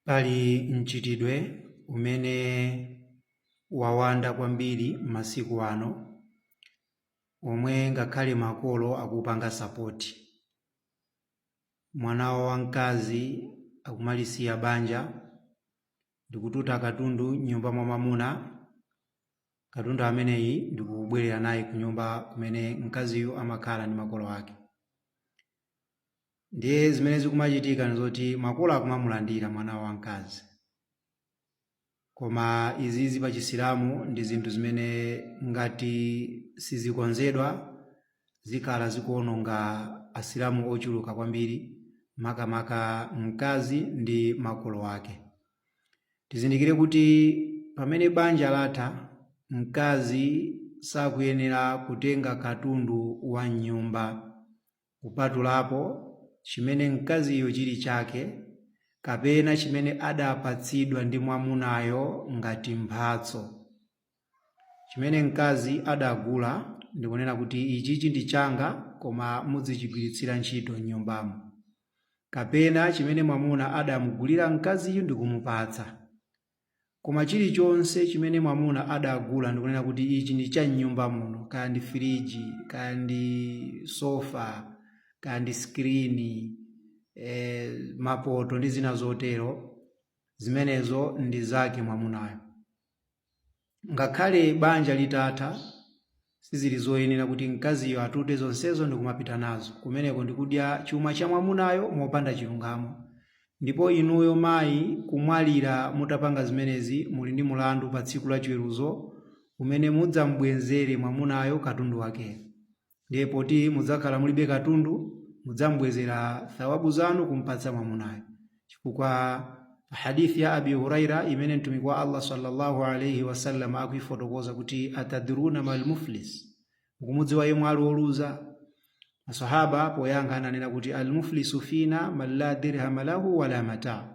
Pali mchitidwe umene wawanda kwambiri masiku ano omwe ngakhale makolo akupanga sapoti. Mwana wawo wamkazi akumalisiya banja ndi kututa katundu m'nyumba mwa mwamuna, katundu ameneyi ndi kubwerera naye kunyumba kumene mkaziyu amakhala ndi makolo ake. Ndiye zimene zikumachitika nzoti makolo akumamulandira mwana wawo wamkazi. Koma izizi pa Chisilamu ndi zinthu zimene ngati sizikonzedwa zikhala zikuononga Asilamu ochuluka kwambiri makamaka mkazi ndi makolo ake. Tizindikire kuti pamene banja latha, mkazi sakuyenera kutenga katundu wa mnyumba. kupatulapo chimene mkaziyo chili chake kapena chimene adapatsidwa ndi mwamunayo ngati mphatso. Chimene mkazi adagula ndi kunena kuti ichichi ndi changa koma mudzichigwiritsira ntchito m'nyumbamo. Kapena chimene mwamuna adamugulira mkaziyu ndi kumupatsa. Koma chilichonse chimene mwamuna adagula ndikunena kuti ichi ndi cha m'nyumba muno, kaya ndi firiji, kaya ndi sofa, kaya ndi sikirini, e, mapoto ndi zina zotero, zimenezo ndi zake mwamunayo. Ngakhale banja litatha, sizili zoyenera kuti mkaziyo atute zonsezo ndi kumapita nazo. Kumeneko ndi kudya chuma cha mwamunayo mopanda chilungamo. Ndipo inuyo mayi, kumwalira mutapanga zimenezi, muli ndi mlandu pa Tsiku la Chiweruzo umene mudzam'bwenzere mwamunayo katundu wakeyo. Ndiye poti mudzakhala mulibe katundu, mudzambwezera thawabu zanu kumpatsa mwamunayo, chifukwa hadith ya Abi Huraira imene Mtumiki wa Allah sallallahu alaihi wasallam akuifotokoza kuti atadruna mal muflis, mukumudziwa yemwe ali woluza? Masahaba poyankha ananena kuti al muflisu fina man la dirhama lahu wala mata,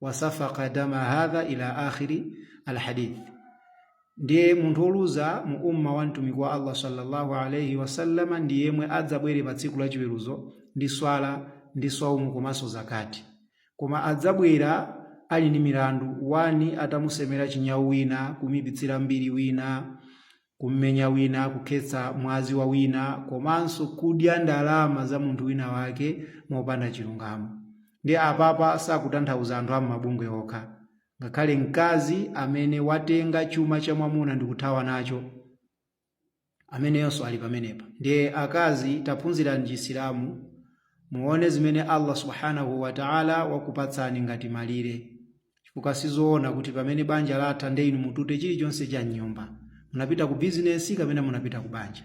wasafaka dama hadha ila akhiri alhadith ndiye munthu woluza mu umma wa mtumiki wa allah sallallahu alaihi wasallama ndi yemwe adzabwere pa tsiku lachiweruzo ndi swala ndi swaumu komanso zakati koma adzabwera ali ndi milandu wani atamusemera chinyawu wina kumuipitsira mbiri wina Kum'menya wina, kukhetsa mwazi wa wina, komanso kudya ndalama za munthu winawake mopanda chilungamo. Ndiye apapa sakutanthauza anthu a m'mabungwe okha. Ngakhale mkazi amene watenga chuma cha mwamuna ndi kuthawa nacho, ameneyonso ali pamenepa. Ndiye akazi, taphunzirani Chisilamu muone zimene Allah Subhaanahu wa Ta'ala wakupatsani ngati malire. chifukwa sizoona kuti pamene banja latha nde inu mutute chilichonse cha m'nyumba. Munapita ku bizinesi kapena munapita ku banja?